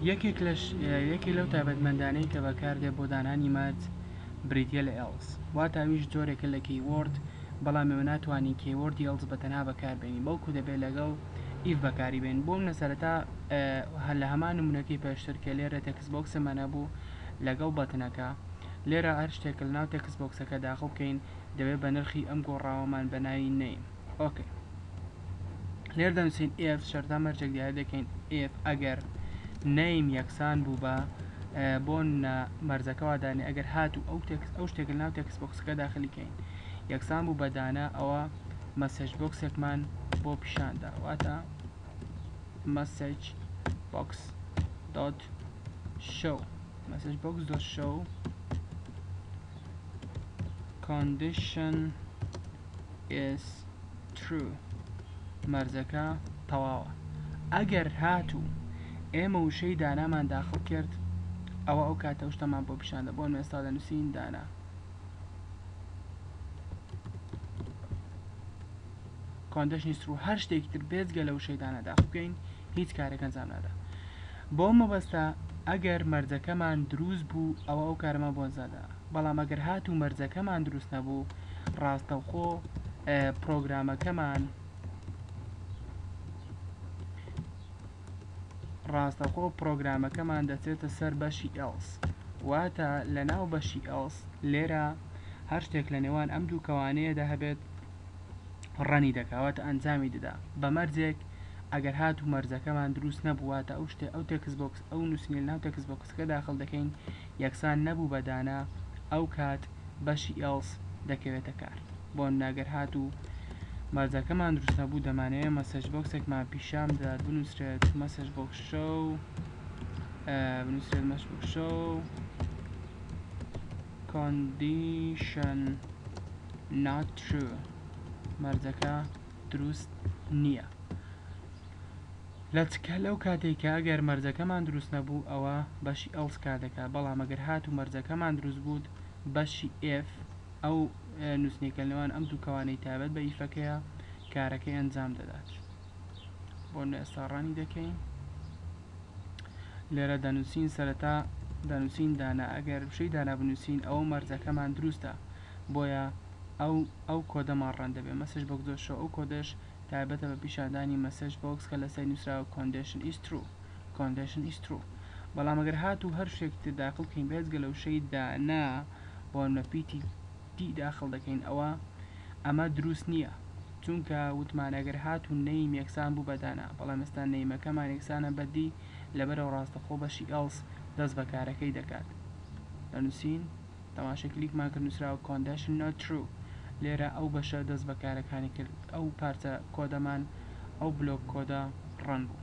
یەکێک لەو تایبەتمەندانەی کە بەکاردێت بۆ دانانی مەرج بریتیە لە ئێڵس واتە ئەویش جۆرێکە لە کیوۆرد بەڵام ئێوە ناتوانین کیوۆردی ئێڵس بە تەنها بەکاربێنین بەڵکو دەبێت لەگەڵ ئیف بەکاری بێنین بۆمنە سەرەتا لە هەمان نمونەکەی پێشتر کە لێرە تێکست بۆکسمان هەبوو لەگەڵ بەتنەکە لێرە هەر شتێک لەناو تێکست بۆکسەکە داخڵ بکەین دەبێت بە نرخی ئەم گۆڕاوەمان بە ناوی نەیم ئۆکەی. لێر دەنووسین ئێف شەرتە مەرجێک دیارە دەکەین ئێف ئەگەر نەیم یەکسان بوو بە بۆ مەرزەکەوا دانێ ئەگەر هات و ئەو تێکس ئەو شتێک ناو تێکس بۆکسەکە داخلیکەین یەکسان بوو بەدانە ئەوە مەسج بۆکسێکمان بۆ پیشاندا واتە مەسج بۆکس دۆت شەو مەسج بۆکس دۆت شەو condition ئێس ترو مەرجەکە تەواوە ئەگەر هاتوو ئێمە وشەی دانامان داخڵ کرد ئەوە ئەو کاتە شتەمان بۆ پیشاندە بۆن ئێستا دەنووسین دانا کۆندشنی سرو هەر شتێکی تر بێزگە لە وشەی دانا داخڵ بکەین هیچ کارێک ئەنجام نادا بۆ مەبەستە ئەگەر مەرجەکەمان دروست بوو ئەوە ئەو کارەمان بۆ ئەنجام دەدا بەڵام ئەگەر هاتوو مەرجەکەمان دروست نەبوو ڕاستەوخۆ پرۆگرامەکەمان ڕاستەخۆ پرۆگرامەکەمان دەچێتە سەر بەشی ئێڵس واتە لە ناو بەشی ئێڵس لێرە هەر شتێک لە نێوان ئەم دوو کەوانەیەدا هەبێت ڕەنی دەکەواتە ئەنجامی دەدا بە مەرجێک ئەگەر هات و مەرجەکەمان دروست نەبوواتە ئەو شتێ ئەو تێکس بۆکس ئەو نووسنی ناو تێکس بۆکسەکە داخل دەکەین یەکسان نەبوو بە دانا، ئەو کات بەشی ئێڵس دەکەوێتە کار. بۆ نمونە گەر هاتوو مەرجەکەمان دروست نەبوو دەمانەوێت مەسەج بۆکسێکمان پیشان بدات بنوسرێت مەسەج بۆکس شەو بنوسرێت مەسەج بۆکس شەو کۆندیشن not true مەرجەکە دروست نییە لەچکە لەو کاتەی کە ئەگەر مەرجەکەمان دروست نەبوو ئەوا بەشی ئەڵس کار دەکا بەڵام ئەگەر هاتوو مەرجەکەمان دروست بوود بەشی ئێف ئەو نووسنێکە لەوان ئەم دوو کەوانەی تابەت بە ئیفەکەیە کارەکەی ئەنجام دەدات بۆ نێستا ڕانی دەکەین لێرە دەنووسین سەرەتا دەنووسین دانا ئەگەر بشەی دانا بنووسین ئەوە مەرجەکەمان دروستە بۆیە ئەو ئەو کۆدەمان ڕەن دەبێت مەسج بۆکس دۆت شۆ ئەو کۆدەش تایبەتە بە پیشاندانی مەسج بۆکس کە لەسەری نوسراوە کۆندێشن ئیس ترو کۆندێشن ئیس ترو بەڵام گەر هاتوو هەر شتێکی تر داخل کەین بێجگە لە وشەی دانا بۆ نمونە پی تی تی داخل دەکەین ئەوا ئەمە دروست نیە چونکە وتمان گەر هاتوو نەیم یەکسان بوو بە دانا بەڵام ئێستا نەیمەکەمان یەکسانە بە دی لەبەرئەوە ڕاستەخۆ بەشی ئێڵس دەست بە کارەکەی دەکات لە نوسین تەماشای کلیکمان کرد نوسراوە Condition not true لێرە ئەو بەشە دەست بەکارەکانی کرد ئەو پارچە کۆدەمان ئەو بلۆک کۆدە ڕەن بوو.